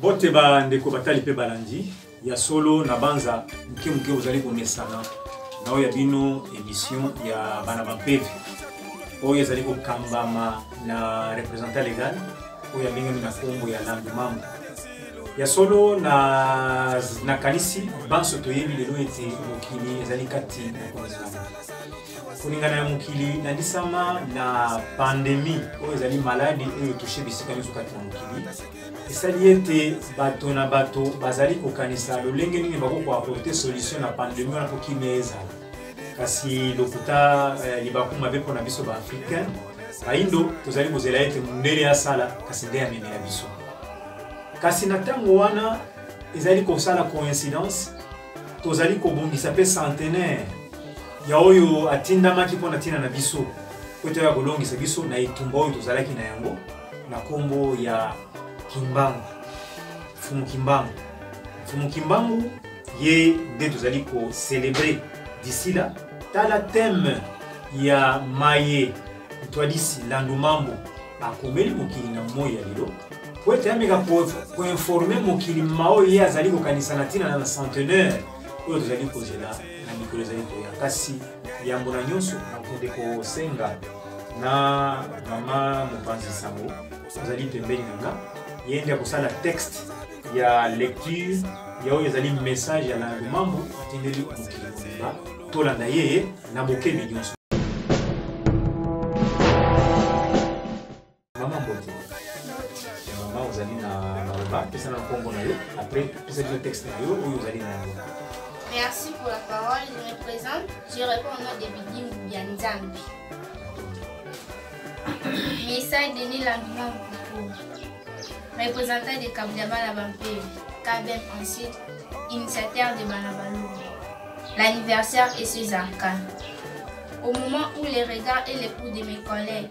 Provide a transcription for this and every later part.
Bote ba ndeko batali pe balandi ya solo na banza muke muke ozali komesana na oyo ya bino emission ya bana bampeve oyo ezali kokambama na representant legal oyo abengami na kombo ya landu mambo ya solo na nakanisi banso toyebi lelo ete mokili ezali kati na koningana koningana ya mokili nandisama na pandemi oyo ezali maladi oyo toshe bisika nyonso kati na mokili esali ete bato na bato bazali kokanisa lolenge nini bakoki koaporte solution na pandemi wana mpo kimia ezala kasi lokuta eh, libaku mabe mpo na biso baafricain baindo tozali kozela ete mondele asala kasi nde amemela biso kasi na ntango wana ezali kosala coïncidence tozali kobongisa mpe centenaire ya oyo atindamaki mpo na ntina na biso mpo ete oya kolongisa biso na etumba oyo tozalaki na yango na kombo ya kimbangu mfumu kimbangu mfumu kimbangu ye nde tozali kocelebre disila tala teme ya maye ntwadisi landu mambo akomeli mokili na moi ya lelo po ete ameka koinforme mokili maoyo ye azali kokanisa na ntina na centenaire oyo tozali kozela na mikolo ezali koya kasi yambo na nyonso nakonde kosenga na mama mopanzi sango azali pembeni na nga ye nde akosala texte ya lecture ya oyo ezali message ya landu mambo atindeli mokili mobimba tolanda ye na bokebi nyonso mama mbote mama ozali na maloba pesa na nkombo na yo après pesa bino texte na yo oyo ozali na yango Merci pour la parole. Je me présente. Je réponds au nom de Bidim Bianzambi. Message de Nilanduma Mpuku, représentant de Kabdiabala Bampé, Kabem ensuite, initiateur de Banabalou. L'anniversaire est César K. Au moment où les regards et les coups de mes collègues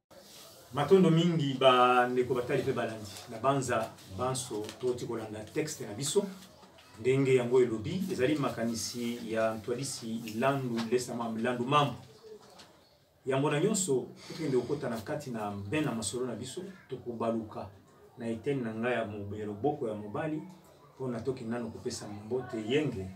matondo mingi bandeko batali mpe balandi na banza banso toti kolanda texte na biso ndenge yango elobi ezali makanisi ya ntwadisi landu lesama landu mambo yango na nyonso tokende kokota na kati na ben na masolo na biso tokobaluka na eteni na ngai ya mobe loboko ya mobali mpo natoki nano kopesa mbote yenge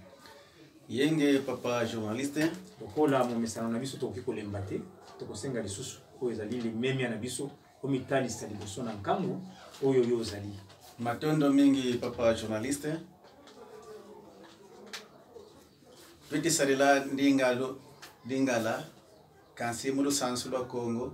yenge papa journaliste lokola momesano na biso tokoki kolemba te tokosenga lisusu oyo ezali limemia na biso omitalisa liboso na nkango oyo yo ozali matondo mingi papa journaliste mpe tisalela ndingalo lingala kasi mulusansu lwa kongo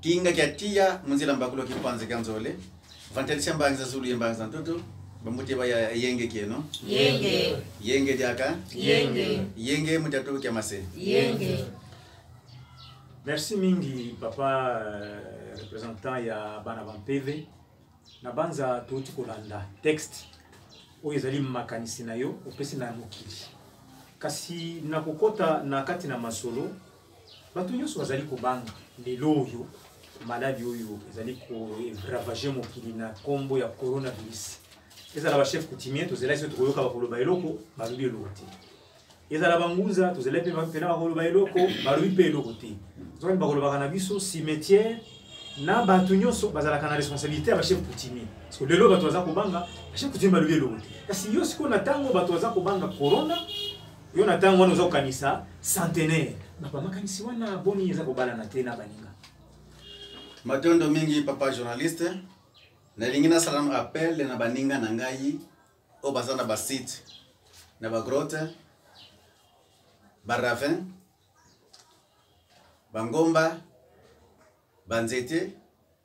Kinga kya tiya munzila mbakulo ki panze kya nzole. Vantalisia mbangi za zulu ye mbangi za ntutu. Bamute ba ya yenge kieno. Yenge. Yenge diaka. Yenge. Yenge mutatu kya mase. Yenge. Merci mingi papa euh, représentant ya bana bampeve na banza touti kolanda texte oyo ezali makanisi na yo opesi na mokili kasi nakokɔta na kati na masolo bato nyonso bazali kobanga lelo oyo maladi oyo ezali koravage mokili na nkombo ya coronavirus ezala bachef coutumier tozelaki soki tokoyoka bakoloba eloko balobi eloko te ezala bangunza tozelaki mpe mpena bakoloba eloko balobi mpe eloko te zoki bakolobaka na biso cimetière na bato nyonso bazalaka na responsabilité ya bachef coutumier parce que lelo bato baza kobanga bachef coutumier balobi eloko te kasi yo sikoyo na ntango bato baza kobanga corona yo na ntango wana oza kokanisa centenaire bato bamakanisi wana boni eza kobalana te na baninga matondo mingi papa journaliste nalingi nasala na appel na baninga na ngai oyo baza na basite na bagrote baravin bangomba banzete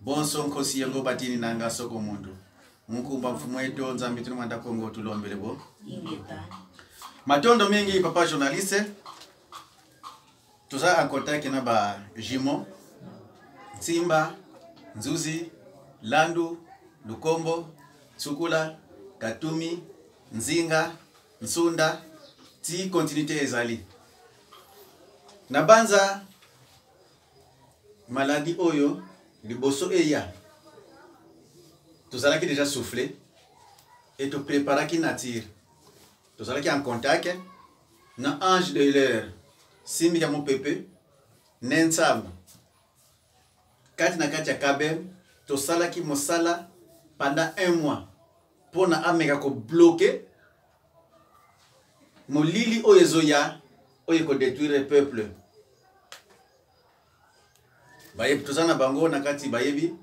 Bonso nkosi yango batini na nga soko mondo mokumba mfumu eto nzambe tino manda kongo tulombele bo matondo mingi papa journaliste toza en contact na ba jumeaux nsimba nzuzi landu lukombo sukula katumi nzinga nsunda ti continuité ezali nabanza Maladie oyo liboso eya tozalaki deja souffle et to preparaki nature tozalaki en contact na ange de l'heure simbi ya mopepe ne nsambo kati na kati ya kabem tosalaki mosala pendant un mois mpo na ameka kobloke molili oyo ezoya oyo ekodetruire peuple bayebi toza na bango na kati bayebi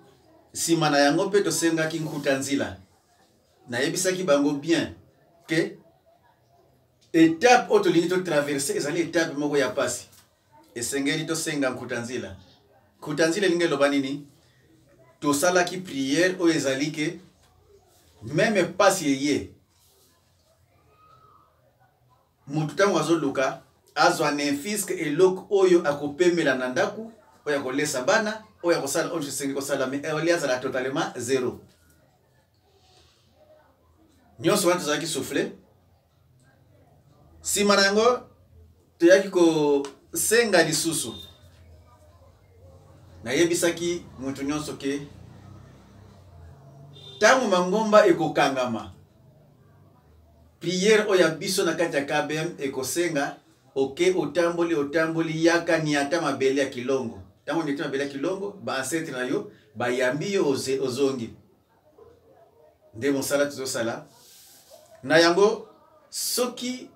nsima na yango mpe tosengaki nkuta nzila nayebisaki bango bien ke etape oyo tolingi totraverse ezali etape moko ya mpasi esengeli tosenga nkuta nzila nkuta nzila elingi eloba nini tosalaki priere oyo ezali ke meme mpasi eye moto ntango azoluka azwa nemfiske eloko oyo akopemela na ndako oyo akolesa bana oyo akosala oyo esengi kosala me eoli azala totalement zero nyonso wana tozalaki souffle nsima na yango toyaki kosenga lisusu nayebisaki moto nyonso ke ntango mangomba ekokangama priere oyo ya biso na kati ya kbm ekosenga oke otamboli otamboli yaka niata mabele ya kilongo ntango niata mabele ya kilongo baancetre na yo bayambi yo ozongi nde mosala tozosala na yango soki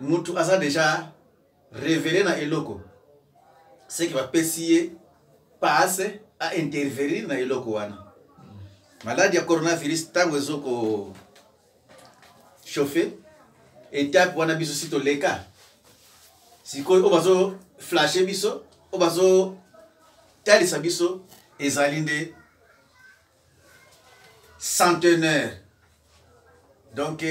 mutu aza deja revele na eloko seke bapesi ye passe a intervenir na eloko wana maladi ya coronavirus ntango ezoko chauffe etape wana biso si toleka sikoyo oyo bazo flashe biso oyo bazotalisa biso ezali nde centenaire donc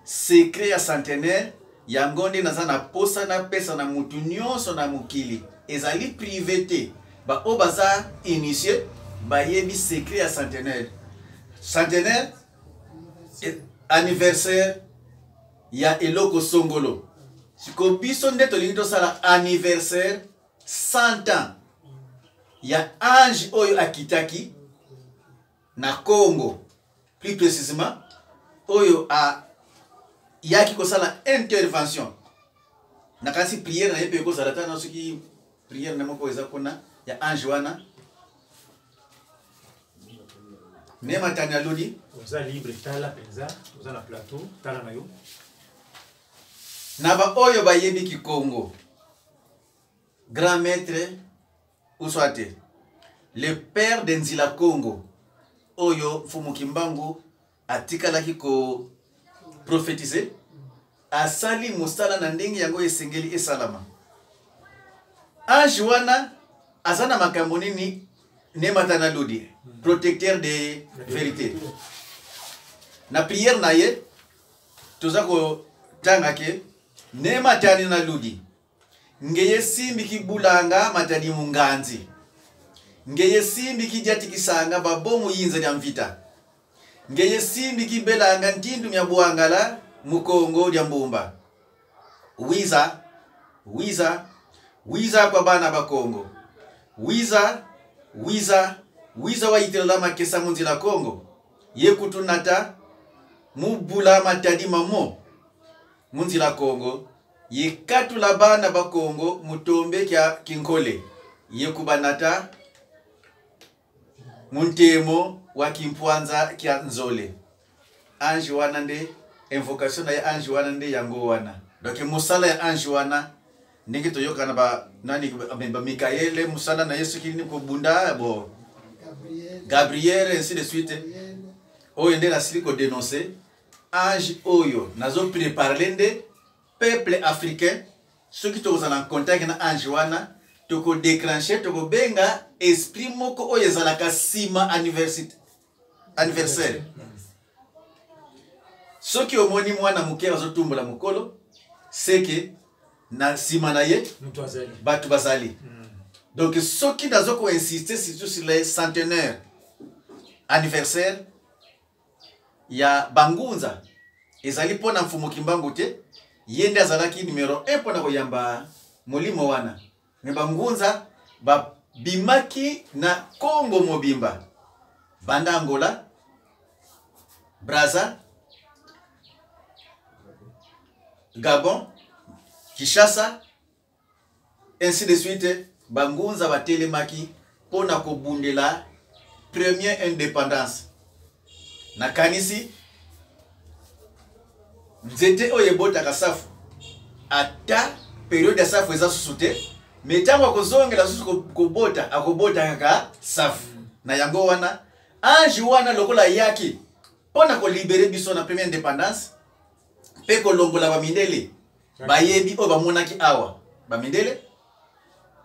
secret ya centenaire yango nde naza na posa napesa na motu nyonso na mokili ezali prive te baoyo baza initie bayebi secret ya centenaire centenaire eh, anniversaire ya eloko songolo siko biso nde tolingi tosala anniversaire 100 ans ya ange oyo akitaki na congo plus précisément oyo ayaki kosala intervention nakanisi priere na ye mpe ekozala ta na soki Prière na moko eza kuna ya ange wana. Ne matani aloni. Oza libre tala penza, oza na plateau, tala na yo. Na ba oyo bayebi Kikongo. Grand maître ou soit le père de Nzila Congo oyo Mfumu Kimbangu atikalaki ko prophetise asali mosala na ndenge yango esengeli esalama ange wana aza na makambo nini nemata na lodi protecteur de verité na prière na ye toza kotanga ke nematani na ludi Ngeye simbi ki bulanga matadi munganzi. Ngeye simbi ki diati kisanga ba bomu yinza dia mvita. Ngeye simbi ki belanga ntindu mia buangala mu Kongo dia mbumba. Wiza, wiza, wiza kwa bana ba Kongo. Wiza, wiza, wiza wa yitela la makesa mu nzila Kongo. Ye kutu nata mu bula matadi ma mo. Munzila Kongo yikatula bana ba Kongo mutombe kya kinkole yekubanata muntemo wa kimpwanza kya nzole ange wana nde invocation na ye ange wana nde yango wana donc mosala ya ange wana ndenge toyokana ba nani ba Mikaele musala na ye soki nini kobunda bo Gabriel ainsi de suite oyo nde nasili kodenonse age oyo nazo preparele nde peuple africain soki tokozala na contact na ange wana tokodeclenche tokobenga esprit moko oyo ezalaka nsima anniversaire soki omoni mwana moke azotumbola mokolo seke na nsima na ye bato bazali hmm. donc soki nazo koinsiste surtout sur le centenaire anniversaire ya bangunza ezali mpo na mfumu kimbangu te ye nde azalaki numero 1 mpo na koyamba molimo wana me bangunza babimaki na congo mobimba banda angola braza gabon kishasa Ainsi de suite, bangunza batelemaki mpo na kobundela premier independance. Nakanisi nzete oyo ebotaka safu ata periode ya safu eza susu te me ntango akozongela susu kobota akobota kaka safu na yango wana ange wana lokola ayaki mpo na kolibere biso na première indépendance mpe kolongola bamindele bayebi oyo bamonaki awa bamindele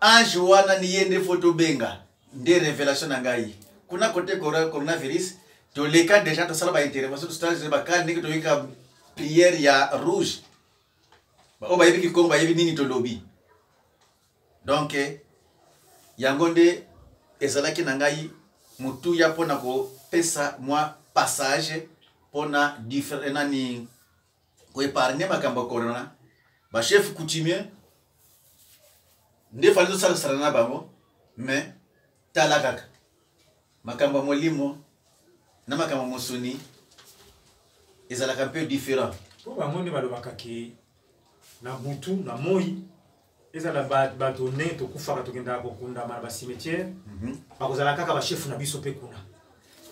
ange wana ni ye nde fo tobenga nde révélation na ngai kuna kote coronavirus toleka déjà tosala baintervention tosala bakale ndenge toyika prière ya rouge baoyo bayebi kikongo bayebi nini tolobi donk eh, yango nde ezalaki na ngai motuya mpo na kopesa mwa passage mpo na eh, nani ko épargner makambo ya corona ba chef coutumier nde fali tosalasala na bango mais tala kaka makambo ya molimo na makambo mosuni ezalaka mpe différent mpo bango nde balobaka ke na butu na moi ezala bato ndenge tokufaka tokendaka kokundama na bacimetiere mhm. bakozala kaka bashefu na biso mpe kuna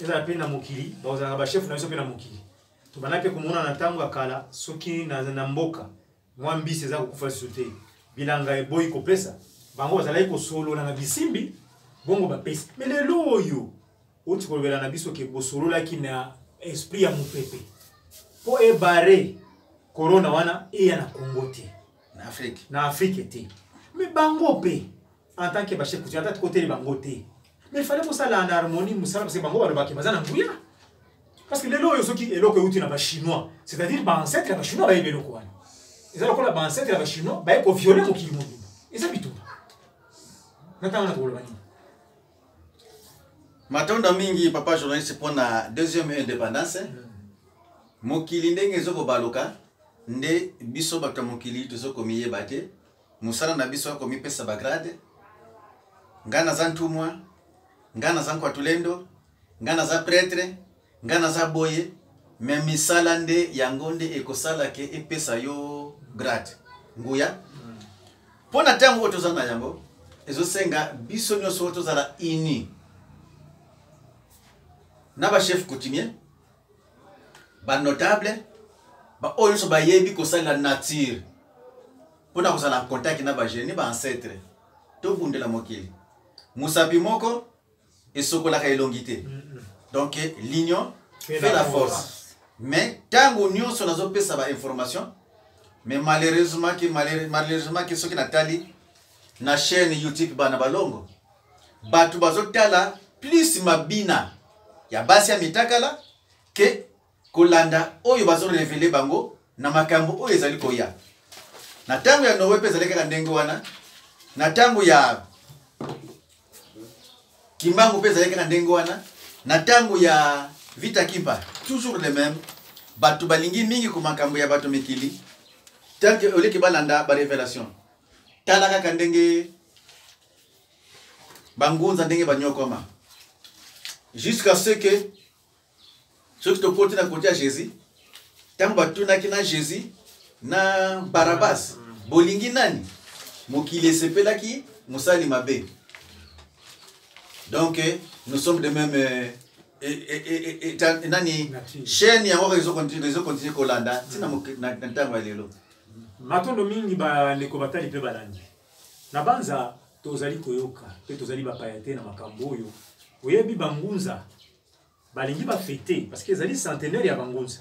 ezala mpe na mokili bakozalaka bashefu na biso mpe na mokili tobanda mpe komona na ntango ya kala soki na mboka mwa mbisi eza kokufa lisusu te bilanga eboyi kopesa bango bazalaki kosolola na bisimbi bongo bapesi me lelo oyo oti kolobela na biso ke bosololaki na esprit ya mopepe mpo ebare korona wana eya na kongo te na afrique na afrique te me bango mpe en tant que bachef coutumier ata tikoteli bango te mais fallait kosala na harmonie mosala parce que bango balobaki baza na nguya parce que lelo oyo soki eloko euti na bachinois c'est-à-dire baancetre ya bachinois bayebi eloko wana eza lokola baancetre ya bachinois baye koviole mokili mobimba eza bitumba na ntango na tokoloba nini matondo mingi papa journaliste mpo na deuxième indépendance mokili ndenge ezokobaluka nde biso bato ya mokili tozokomiyeba te mosala na biso akomipesa bagrade ngai naza ntumwa ngai naza nkwatulendo ngai naza pretre Nga naza boye mais misala nde yango nde ekosala ke epesa yo grade nguya hmm. mpo na ntango oyo toza na yango ezosenga biso nyonso tozala uni na bachef coutumier banotable baoyo nyonso bayebi kosalela nature mpo na kozala en contact na bagenie baancetre tobundela mokili mosapi moko esokolaka elongi te donc l'union fait la force mais ntango nyonso nazopesa bainformation mais malheureusement ke malheureusement ke soki natali na chaîne youtube bana balongo bato bazotala plus mabina ya basi ya mitakala ke kolanda oyo bazo revele bango na makambo oyo ezali koya na ntango ya noe mpe ezali kaka ndenge wana na ntango ya kimbangu mpe ezali kaka ndenge wana na ntango ya vita kimpa toujours le même bato balingi mingi ko makambo ya bato mikili tanke oleki balanda barevelation tala kaka ndenge bangunza ndenge banyokwama jusqu'à ce que soki tokoti na kote ya jésus ntango batunaki na jésus na barabas bolingi nani mokili esepelaki mosali mabe donc eh, nous sommes de même eh, eh, nani chaîne yango ezokontinue kolanda ntina na ntango ya lelo matondo mingi bandeko batali mpe balandi na banza tozali koyoka mpe tozali bapaya te na makambo oyo oyebi bangunza balingi ba fete parce que ezali centenaire ya bangunza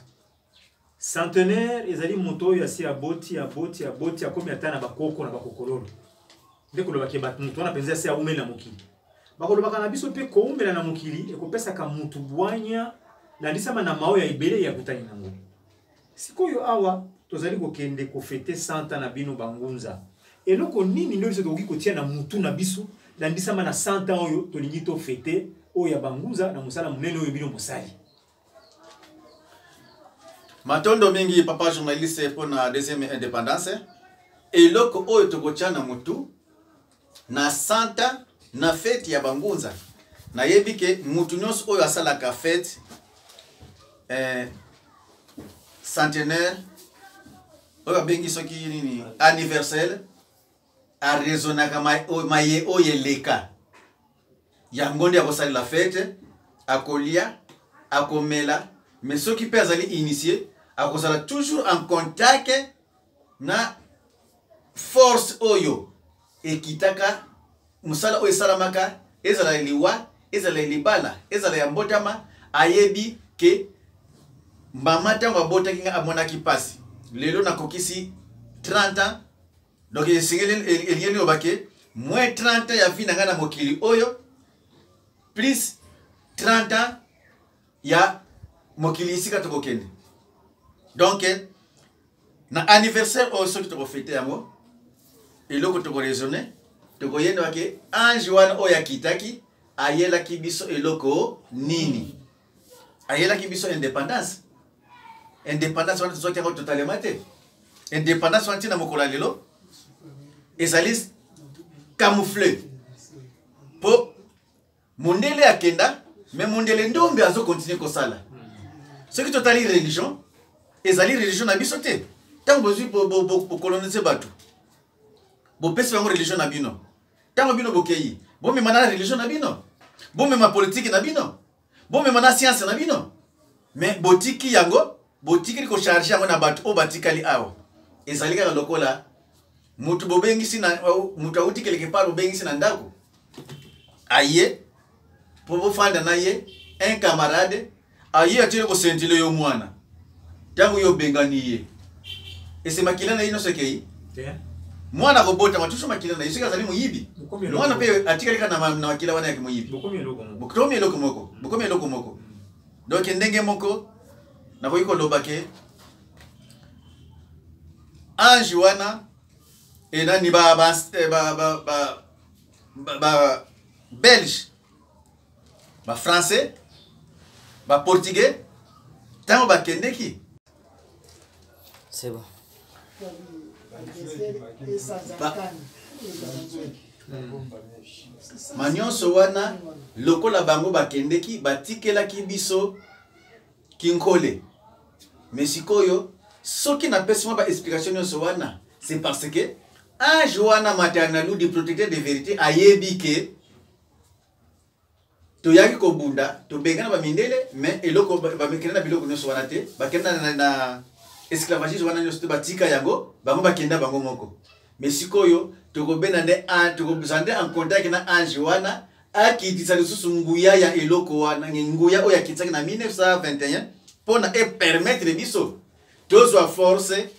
centenaire ezali moto oyo asi aboti aboti aboti akomi ata na bakoko na bakokololo nde kolobaki bato moto wana mpenza asi aumeli na mokili bakolobaka na biso mpe koumela na mokili ekopesaka motu bwanya landisama na mao ya ebele ya kutani nango Sikoyo awa tozali kokende kofete 100 ans na bino bangunza. Eloko nini ndio biso tokoki kotia na mutu na biso landisama na 100 ans oyo tolingi to fete oyo ya bangunza na mosala monene oyo bino mosali. Matondo mingi papa journaliste mpo na deuxième indépendance. Eloko oyo tokotia na mutu na santa na feti ya bangunza nayebi ke motu nyonso oyo asalaka fete eh, centenaire oyo babengi soki nini anniversaire arezonaka maye oyo eleka yango nde akosalela fete akolia akomela mais soki mpe azali initie akozala toujours en contact na force oyo ekitaka mosala oyo esalamaka ezala ya liwa ezala ya libala ezala ya mbotama ayebi ke mama ntango abotaki ngai amonaki mpasi lelo nakokisi 30 ans donc esengeli elingi eloba ke moins 30 ans ya vi na ngai na mokili oyo plus 30 ans ya mokili esika tokokende donc na anniversaire oyo soki tokofete yango eloko tokoraisonne tokoyeba ke ange wana oyo akitaki ayelaki biso eloko nini ayelaki biso indépendance indépendance wana tozwaki yango totalema te indépendance wana ntina mokolo ya lelo ezali camoufle mpo mondele akenda mais mondele ndombe azo continue kosala soki totali religion ezali religion na biso te ntango bozwi bokolonise bato bopesi bango religion na bino ntango bino bokeyi bomema na religion na bino bomema politiki na bino bomema na sianse na bino me botiki yango botikeli kocharge yango na bato oyo batikali awa ezali kaka lokola moto bobengisi na moto awuti keleke pale bobengisi na ndako aye mpo bofanda na ye un camarade aye atili kosentile yo mwana ntango yo obengani ye ese makila na ye nyonso ekei mwana akobotama tuso makila na ye soki azali moyibi mwana mpe atikali kaka na makila wana yaki moyibi bokomi eloko moko bokomi eloko moko donk ndenge moko nakoki koloba ke ange wana enani ba, ba, eh, ba, ba, ba, ba, ba belge ba français ba portugais ntango bakendeki C'est bon. manyonso wana lokola bango bakendeki batikelaki biso kinkole me sikoyo soki napesi mwa baexplication nyonso wana c'est parce que age wana maternaludi protecteur de vérité ayebi ke toyaki kobunda tobengana bamindele mais eloko bamekenda na biloko nyonso wana te bakenda na, na esclavagise wana nyonso te batika yango bango bakenda bango moko me sikoyo tokobenda nde tokozala nde en contact na ange wana akitisa lisusu nguya ya eloko wana nguya oyo akitisaki na 1921 mpo na epermettre biso tozwa force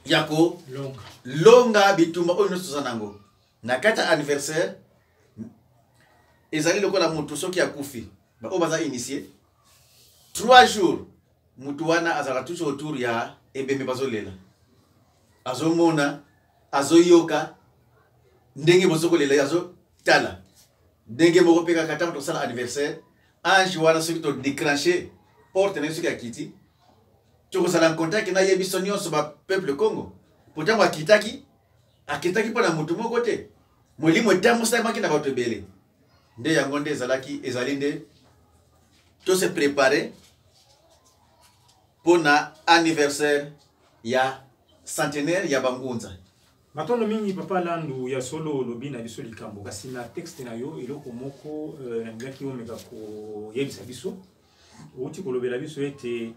ya kolonga bitumba oyo nyonso toza nango na kati ya anniversaire ezali lokola motu soki akufi baoyo baza initie trois jours motu wana azalaka toujours autour ya ebembe bazolela azomona azoyoka ndenge bozo kolela ye azotala ndenge moko mpe kaka ntango tosala anniversaire ange wana soki todecranche porte na ye soki akiti tokozala na contact na ye biso nyonso bapeuple congo po ntango akitaki akendaki mpo na moto moko te molimo etambusamaki na bato ebele nde yango nde ezalaki ezali nde tose prepare mpo na anniversaire ya centenaire ya bangunza matondo mingi papa landu ya solo olobi na biso likambo kasi na texte na yo eloko moko euh, nalingaki omeka koyebisa biso outi kolobela biso ete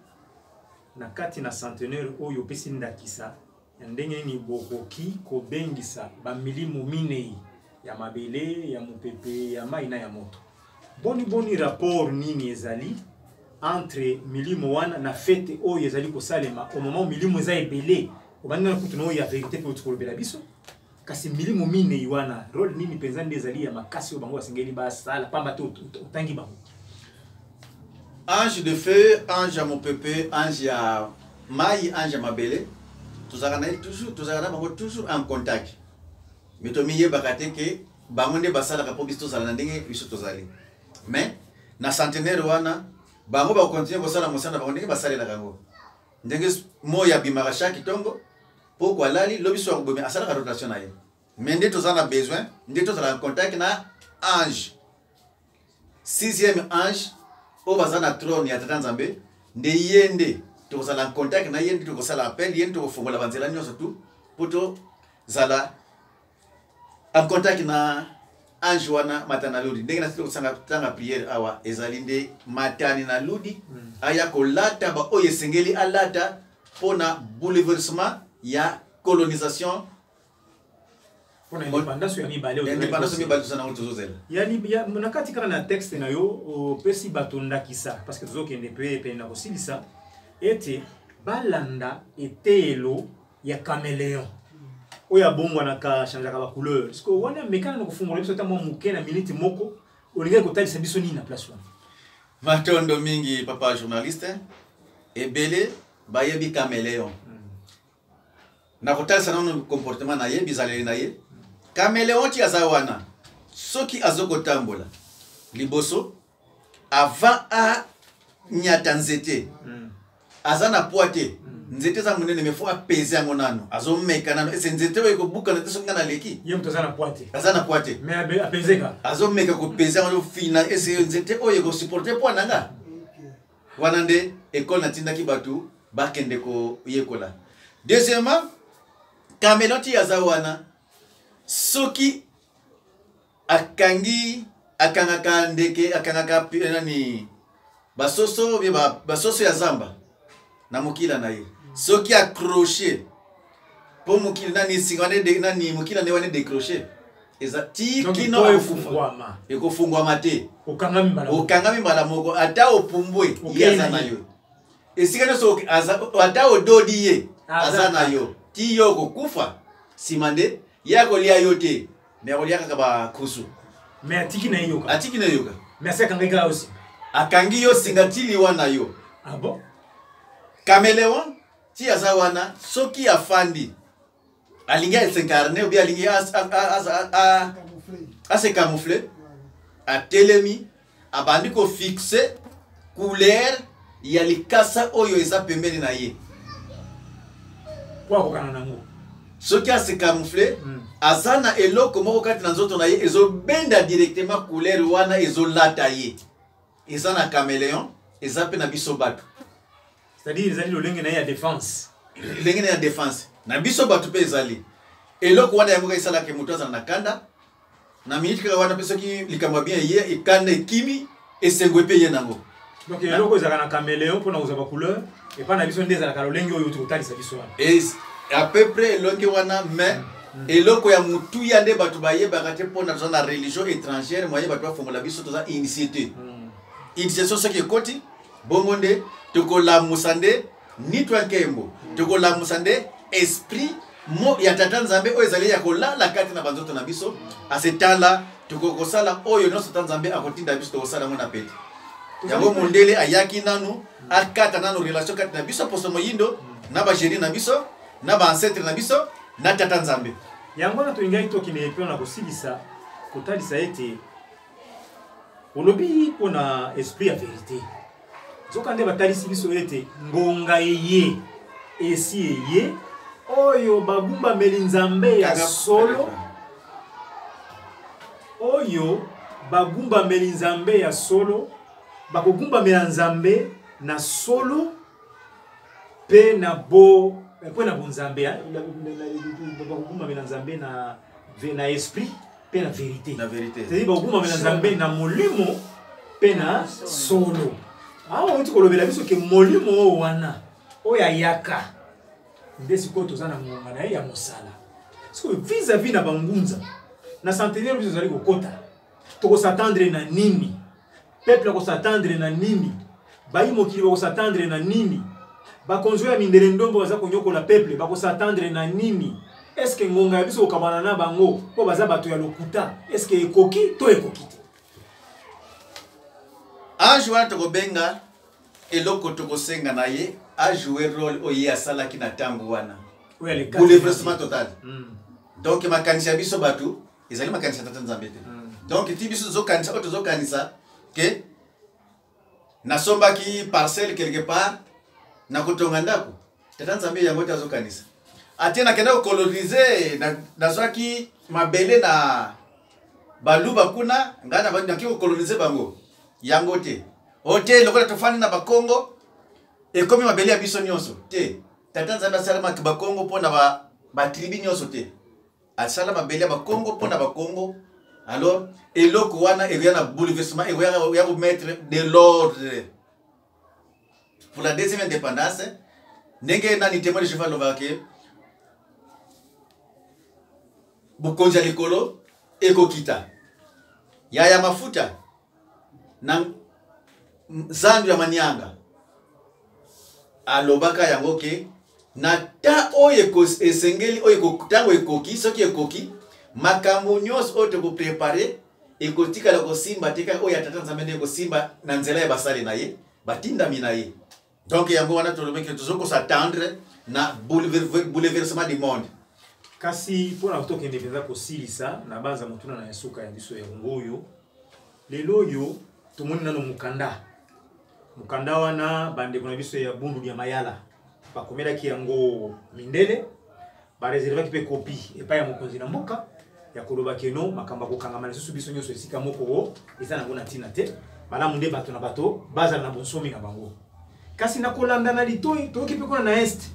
na kati na centenaire oyo opesi ndakisa ya ndenge nini bokoki kobengisa bamilimo minei ya mabele ya mopepe ya mai na ya moto boni boni rapport nini ezali entre milimo wana na fete oyo ezali kosalema omama milimo eza ebele obandi na kutu na oyo ya verité mpe otikolobela biso kasi milimo minei wana role nini mpenza nde ezali ya makasi oyo bango basengeli basala mpamba te otangi bango ange de feu ange ya mopepe ange ya mai ange ya mabele tozalaka na ye toujours tozalaka na bango toujours en contact me tomiyebaka te ke bango nde basalaka mpo biso tozala na ndenge biso tozali mais na centenaire wana bango bakontinue kosala mosala na bango ndenge basalelaka yango ndenge moi abimaka chaque ntongo poko alali lobi soki akobomi asalaka rotation na ye mais nde toza na besoin nde tozala en contact na ange sixième ange oyo baza na trone ya tata nzambe nde ye nde tokozala en contact na ye nde tokosala appel ye nde tokofongola banzela nyonso tu mpo tozala akontaki na ange wana mata na lodi ndenge nasili kosanga tanga priere awa ezali nde matani na lodi hmm. aya kolata baoyo esengeli alata mpo na bouleversement ya colonisation independance ya mibale toza nango tozozela na kati kaka na texte na yo opesi bato ndakisa parce que tozokende mpe pene na kosilisa ete balanda eteyelo ya cameleon oyo abongwanaka achangeaka bacouleur siko wana mekana na kofungola biso ata mwa moke na miniti moko olingaki kotalisa biso nini na place wana matondo mingi papa journaliste ebele bayebi cameleon hmm. nakotalisa nano comportement na ye bizaleli na ye cameleon ti aza wana soki azokotambola liboso avant a nyata nzete mm. aza na poids te mm. nzete eza monene mais faut apese yango nano azomeka nano ese nzete oyo ekobukana te soki nga naleki aza na poids te aza na poids te azomeka kopese yango fina ese nzete oyo ekosupporte poids na nga wana nde ekole natindaki bato bakende koyekola deuxièmement kameloti aza wana soki akangi akangaka ndeke akangaka eh, nani basoso bie basoso ya zamba na mokila na ye soki accroche mpo mokili nani singa wana nani mokila nde wana decroche eza tikino ekofungwama te okangami mbala moko ata opumbwe ye aza na yo esika nyonso ata ododi ye aza na yo ti yo okokufa nsima nde ye akolia yo te mais akolia kaka bakusu mais atiki na ye yoka atiki na ye yoka mais asi akangaki kaka osi akangi yo singa ti liwa na yo ah bon cameleon ti aza wana soki afandi alingi asencarne obi alingi ase camoufle atelemi abandi ko fixe couleur ya likasa oyo eza pembeni na ye po akokana nango soki ase camoufle mm. aza na eloko moko kati na nzoto na ye ezobenda directement couleur wana ezolata ye eza na cameleon eza mpe na biso bato c'est-à-dire ezali lolenge na ye ya défense lolenge na ye ya défense na biso bato mpe ezali eloko wana yango esalaka moto azala na kanda na minute kaka wana mpe soki likambo ya bien eye ekanda ekimi esengo epe eye nango donc eloko ezalaka na cameleon mpona kozwa bacouleur epai na biso nde ezalaka lolenge oyo tokotalisa biso wana à peu près elongi wana mais mm. eloko ya motuya nde bato bayebaka te mpona toza na religion étrangère moye bato bafongola biso toza initie te mm. initiation soki ekoti bongo nde tokolamusa nde ni twa nkembo tokolamusa nde esprit mo ya tata nzambe oyo ezali ya kolala kati na banzoto na biso ase tala tokoki kosala oyo nyonso ta nzambe akotinda biso tokosala yango na pete yango mondele ayaki nanu akata nanu relation kati na biso poso moyindo na bagenie na biso na baancetre na biso na tata nzambe yango wana tolingaki tokende epe na kosilisa kotalisa ete olobi mpo na esprit ya verite nzoka nde batalisi biso ete ngonga eye esi eye oyo bagumbameli nzambe ya solo oyo bagumbameli nzambe ya solo bakogumbamela nzambe na solo mpe na bo mpe na bonzambe bakogumbamela nzambe na esprit mpe na verite na verite c'est-à-dire bakokumamela nzambe na molimo mpe na solo awa ah, outi kolobela biso ke molimo oyo wana oyo ayaka nde sikoyo toza na ngonga na ye ya mosala sikoyo vis à vis na bangunza na centenaire biso tozali kokota tokosatendre na nini peuple ako s'attendre na nini bayi mokili bako s'attendre na nini bakonzi ya mindele ndombo baza konyokola peuple bako s'attendre na nini eske ngonga ya biso kokabana na bango mpo baza bato ya lokuta eske ekoki to ekoki te age wana tokobenga eloko tokosenga na ye ajoue role oyo ye asalaki na ntango wana bouleversement total hmm. donc makanisi ya biso bato ezali makanisi ya tata nzambe te donc ti biso tozokanisa oyo tozokanisa ke nasombaki parcelle quelque part nakotonga ndako tata nzambe yango te azokanisa atie nakenda kokolonize nazwaki mabele na baluba kuna ngai naki kokolonize bango yango te o te lokola tofandi na bakongo ekomi mabele ya biso nyonso te tata nzambe asalamaki bakongo mpo na batribi nyonso te asala mabele ya bakongo mpo na bakongo alors eloko wana ekoya na bouleversement ekoya komettre de l'ordre pour la deuxième indépendance ndenge nani témoin de jehova alobaka ke bokonzi ya likolo ekokita yaya mafuta na zandu ya manianga alobaka yango ke na ta oyo esengeli oyo ntango ekoki soki ekoki makambo nyonso oyo tokoprepare ekotikala kosimba te kaka oyo ya tata nzambe nde ekosimba na nzela ya basali na ye batindami na ye donc yango wana tolobi ke tozo ko s'attendre na bouleversement du monde kasi mpo na tokende mpenza kosilisa na banza motuna na nsuka ya biso yango oyo lelo oyo tomoni nano mokanda mokanda wana bandeko na biso ya bundu ya mayala bakomelaki yango mindele bareservaki mpe kopi epai ya mokonzi na mboka ya koloba keno makambo ya kokangama lisusu biso nyonso esika moko o eza nango na ntina te malamu nde bato na bato bazala na bonsomi na bango kasi na kolanda na litoi toyoki mpe kuna na este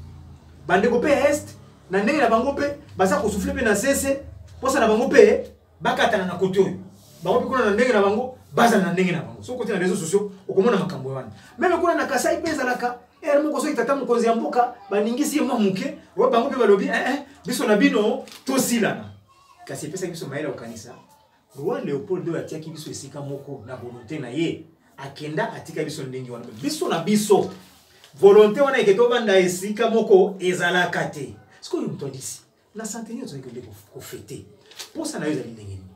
bandeko mpe ya este na ndenge na bango mpe baza kosufle mpe na sese mposa na bango mpe bakatana na kote oyo bango mpe kuna na ndenge na bango bazala na ndenge na bango soki kote na réseau sociaux okomona makambo wana meme kuna na kasai mpe ezalaka ere moko soki tata mokonzi ya mboka baningisi ye mwa moke oyo bango mpe balobi ee eh, eh, biso na bino tosilana kasi epesaki biso mayele ya kokanisa roi leopold oyo atiaki biso esika moko na volonte na ye akenda atika biso ndenge wana biso na biso volonte wana eke tobanda esika moko ezalaka te sikoyo moto andisi na centenaire ozali kende kofete mposa na yo ezali ndenge nini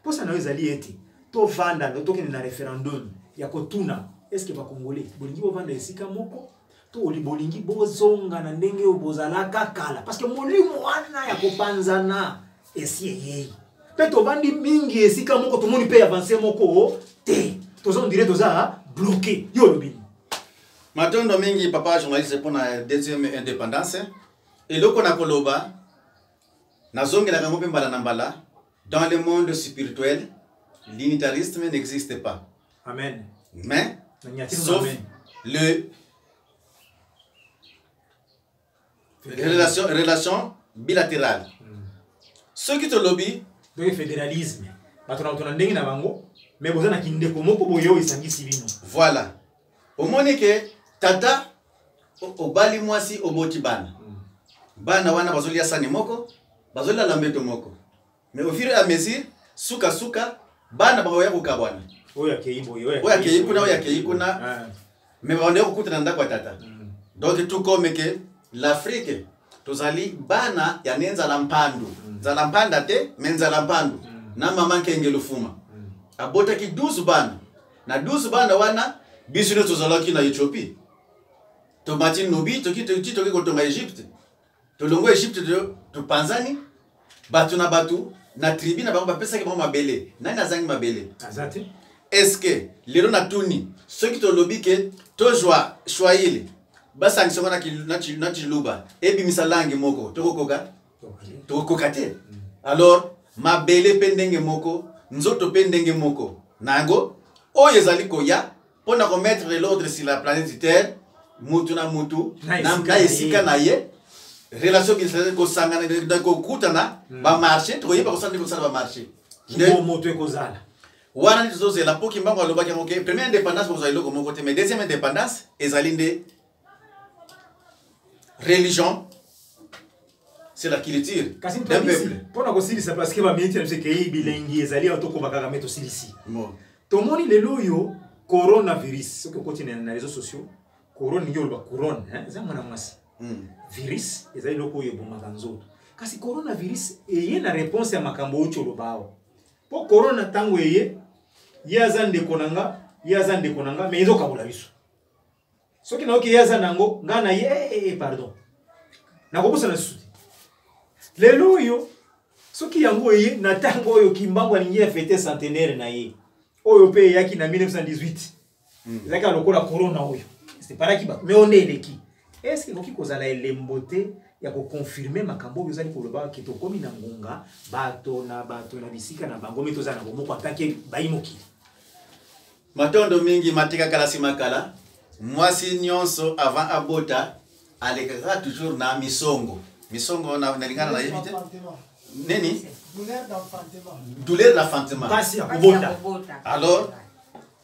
mposa na yo ezali ete tovanda tokende na référendum ya kotuna eske bakongole bolingi bovanda esika moko to bolingi bozonga na ndenge oyo bozalaka kala parce que molimo wana ya kopanzana esi eyei mpe tovandi mingi esika moko tomoni mpe avance moko te toza ondire toza bloke yo olobi matondo mingi papa journaliste mpona deuxième indépendance Eloko na koloba nazongelaka yango mpe mbala na mbala dans le monde spirituel l'unitarisme n'existe pas amen mais sauf amen. le relation, relation bilatérale hmm. soki tolobi donc fédéralisme bato na bato na ndenge na bango mais boza na kindeko moko boye oyo esangisi bino voilà omoni ke tata obali mwasi oboti bana mm. bana wana bazolia sani moko bazolala mbeto moko mais au fur et à mesure suka suka bana bakoya kokabwana oyo akei kuna oyo akei kuna ah. mais bakoya kokutana ndako ya tata mm. donc tout comme ke l'afrique tozali bana ya ne nzala mpandu mm. nzala mpanda te mais nzala mpandu na mama nkenge lufuma abotaki 12 bana Na 12 bana wana biso nde tozalaki na Ethiopie. Tomati Nubi toki toki toki kotonga Egypte. Tolongwe Egypte topanzani bato na bato na tribu na bango bapesaki bango mabele. Nani azangi mabele? Azati. Est-ce que lelo na tuni soki tolobi ke tozwa Swahili basangisa ngo na Chiluba ebimisa langue moko tokokoka? tokokoka te mm. alors mabele mpe ndenge moko nzoto mpe ndenge moko na yango oyo ezali koya mpo na komettre l'ordre sur la planète terre mutu na mutu na esika na ye relation kinsasa kosangana na kokutana mm. bamarché tokoyeba kosala nde kosala bamarché moto ekozala wana nde tozozela mpo kimbango alobaki yango ke première indépendance bokozala eloko moko te mais deuxième indépendance ezali nde religion c'est la culture d'un peuple mpona kosilisa parce que baminiti na biso ekei bilengi ezali awa tokoma kaka me tosilisi tomoni lelo oyo coronavirus soki okoti na réseau sociaux corone ndenge oloba couronne eza mwana mwasi hmm. virus eza eloko oyo ebomaka nzoto kasi coronavirus eye na réponse ya makambo oti oloba awa mpo corona ntango eye ye aza ndeko na nga ye aza ndeko na nga me ezokabola biso soki nayoki ye aza nango ngai na ye eh, eh, eh, pardon nakobosana lisusu te lelo oyo soki yango eye na ntango oyo kimbangu alingi ya fete centenaire na ye oyo mpe eyaki na 1918 hmm. ezalaki lokola corona oyo separaki bato me onde eleki eske ekoki kozala elembo te ya kokonfirme makambo oyo ozali koloba ke tokomi na ngonga bato na bato na bisika na bango me tozala na bomoko atake bayi mokili Matondo mingi matika kala sima kala mwasi nyonso avant abota alekaka toujours na misongo misongo nalingana na yebi te nini douleur d'enfantement pasi ya kobota alors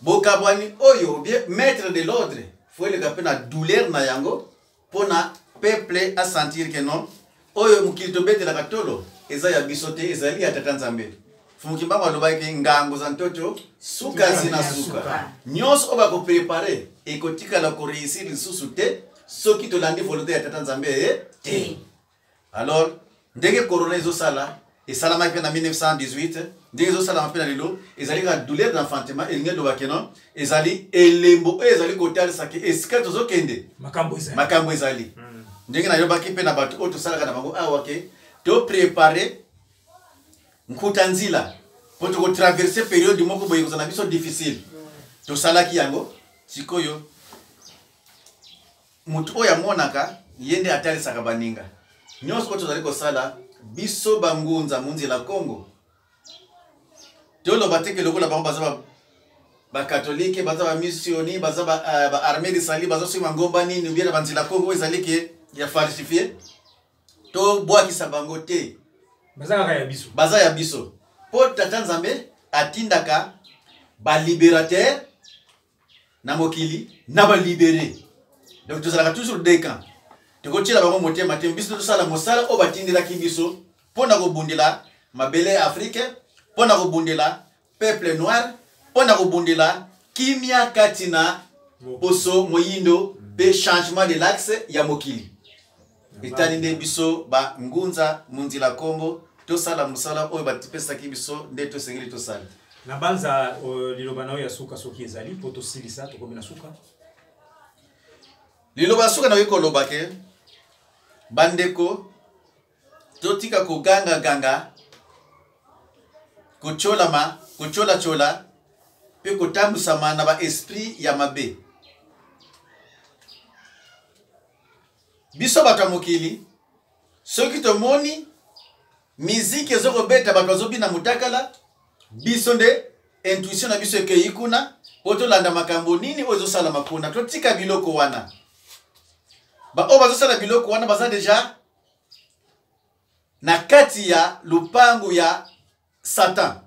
bokabwani oyo maître de l'ordre fo eleka mpe na douleur na yango mpo na peuple a sentir que non oyo mokili tobetelaka tolo eza ya biso te ezali ya tata nzambe fumukimbango alobaki ngango za ntoto sukasi na suka nyonso oyo bakoprepare ekotikala koreusir lisusu te soki tolandi volonte ya tata nzambe eye te alors ndenge corona ezosala esalamaki mpe na 1918 ndenge ezosalama mpe na lelo ezali kaka douleur d'enfantement elingi eloba keno ezali elembo oyo ezali kotalisa ke esika tozokende makambo ezali hmm. ndenge nayobaki mpe na bato oyo tosalaka na bango awa ke toprepare nkuta nzila mpo tokotraverse periode moko boye kozala na biso difficile tosalaki yango sikoyo moto oyo amonaka ye nde atalisaka baninga nyonso oyo tozali kosala biso bangunza munzela congo toloba teke lokola bango baza bakatolike baza bamissioni baza baarmée eh, de sali bazosima ngomba nini obiena banzela congo ezali ke ya falsifie tobwakisa bango te baza kaka ya biso baza ya biso mpo tata nzambe atindaka baliberatere na mokili na balibere donc tozalaka toujours deux camps tokotyela bango motema te biso tosala mosala oyo batindelaki biso mpo na kobundela mabele ya afrike mpo na kobundela peuple noir mpo na kobundela kimia kati na poso moyindo mpe changement de l'axe ya mokili etali nde biso ba ngunza munzila kongo tosala mosala oyo batipesaki biso nde tosengeli tosala na banza uh, liloba na yo ya suka soki ezali mpo tosilisa tokomi na suka liloba ya suka nayoki koloba ke bandeko totika kogangaganga kotyolama kotyolacola mpe kotambwisama na baesprit ya mabe biso bato ya mokili soki tomoni miziki ezokobeta bato bazobina motakala biso nde intuition na biso ekei kuna mpo tolanda makambo nini oyo ezosalama kuna totika biloko wana baoyo bazosala biloko wana baza deja na kati ya lopango ya satan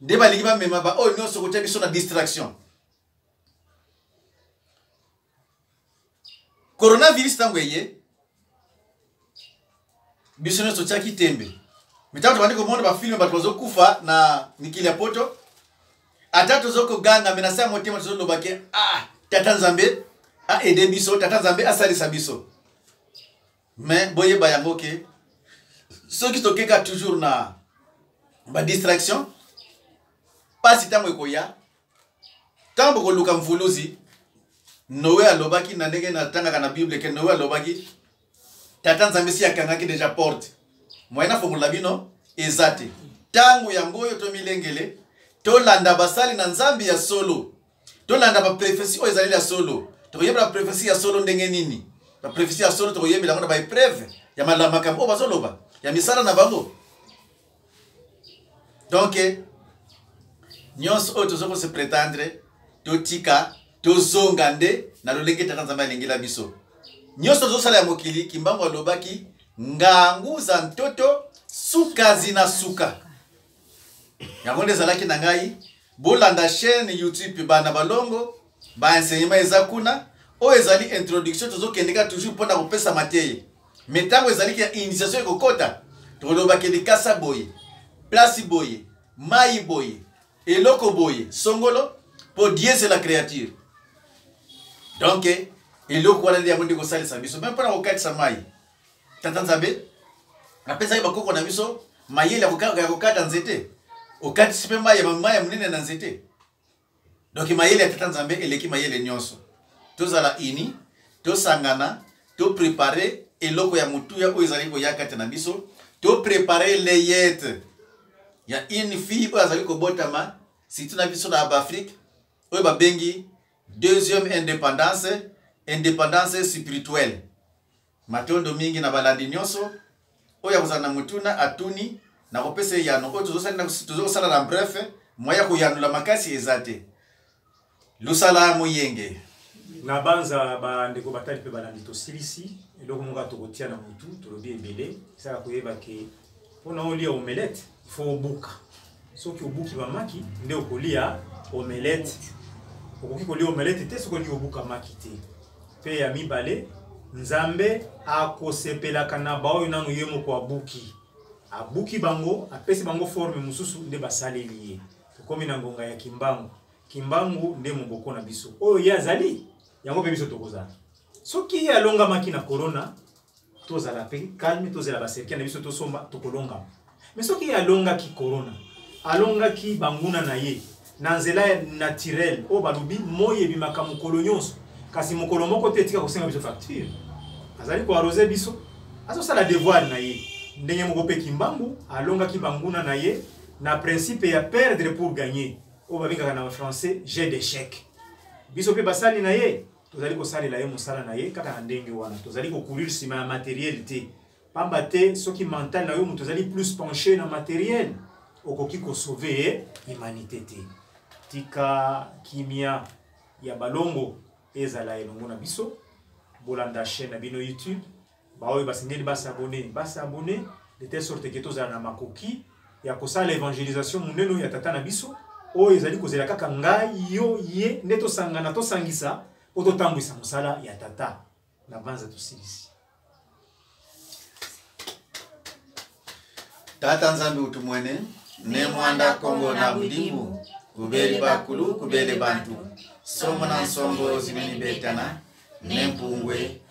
nde balingi bamema baoyo nyonso kotya biso na distraction coronavirus ntango eye biso nyonso otyaki tembe mitango tobandi komona bafilme bato bazokufa na mikili ya poto ata tozo koganga me na se ya motema tozoloba ke ah, tata nzambe aede biso tata nzambe asalisa biso me boyeba yango ke soki tokeka toujours na badistraction mpasi ntango ekoya ntango bokoluka mvuluzi noe alobaki na ndenge natangaka na bible ke noe alobaki tata nzambe si akangaki deja porte moyen afongola bino eza te ntango yango oyo tomilengele tolanda basali na nzambe ya solo tolanda baprofesi oyo ezali ya solo tokoyebela baprofesi ya solo ndenge nini baprofesi ya solo tokoyebela yango na baepreuve ya makambo oyo bazoloba ya misala na bango donc nyonso oyo toza kose pretendre totika tozonga nde na lolenge tata nzambe alingela biso nyonso tozosala ya mokili kimbangu alobaki ngangu za ntoto suka zina suka yango nde ezalaki na ngai bolanda chaîne youtube bana balongo ba enseignement eza kuna oyo ezali introduction tozokende kaka toujours mpo na kopesa mateya me ntango ezali ke initiation ekokota tolobake likasa boye plasi boye mai boye eloko boye songolo mpo diese la créature donk eloko wana nde yango nde kosalisa biso meme mpo na kokatisa mai tata nzambe apesaki bakoko na biso mayele ya kokata nzete okatisi mpe mai ya monene na nzete donk mayele ya tata nzambe eleki mayele nyonso tozala uni tosangana toprepare eloko ya motuya oyo ezali koya kati na biso toprepare leyete ya une fille oyo azali kobotama surtout na biso na baafrike oyo babengi deuxième indépendance indépendance spirituelle Matondo mingi na balandi nyonso. Oyo akozala na motuna atuni, nakopesa eyano oyo tozosala na bref, moye ya koyanola makasi eza te. Lusala moyenge. Nabanza bandeko batali mpe balandi tosilisi eloko moko tokotia na mutu tolobi ebele esala koyeba ke Pona olia omelette, il faut obuka. Soki obuki ba maki, nde okolia omelette. Okoki kolia omelette te soki olingi obuka maki te. Pe ya mibale, Nzambe akosepelaka na baoyo nanu ye moko abuki. Abuki bango, apesi bango forme mosusu nde basaleli ye. Tokomi na ngonga ya kimbangu. Kimbangu nde moboko na biso. Oyo ye azali, yango pe biso tokozala. Soki ye alongamaki na corona, tozala mpe calme tozela baserkele na biso tosomba tokolongama mais soki ye alongaki corona alongaki banguna na ye na nzela ya naturel oyo balobi moi ebimaka mokolo nyonso kasi mokolo moko te etika kosenga biso facture azali koarose biso azosala devoir na ye ndenge moko mpe kimbangu alongaki banguna na ye na principe ya perdre pour gagner oyo babengaka na français jeu d'échec biso mpe basali na ye tozali kosalela ye mosala na ye kaka na ndenge wana tozali kokurir nsima ya materiel te pamba te soki mental na yo moto ozali plus penche na materiel okoki kosauve ye humanité te tika kimia ya balongo ezala elongo na biso bolanda chaîne na bino youtube baoyo basengeli basabone basabone de telle sorte ke tozala na makoki ya kosala evangelisation monene oyo ya tata na biso oyo ezali kozela kaka ngai yo ye nde tosangana tosangisa mpo totambwisa mosala ya tata na banza tosilisi tata nzambe utu mwene ne mwanda kongo na budimu kubeli bakulu kubele bantu somo na nsongo zimeni betana ne mpungwe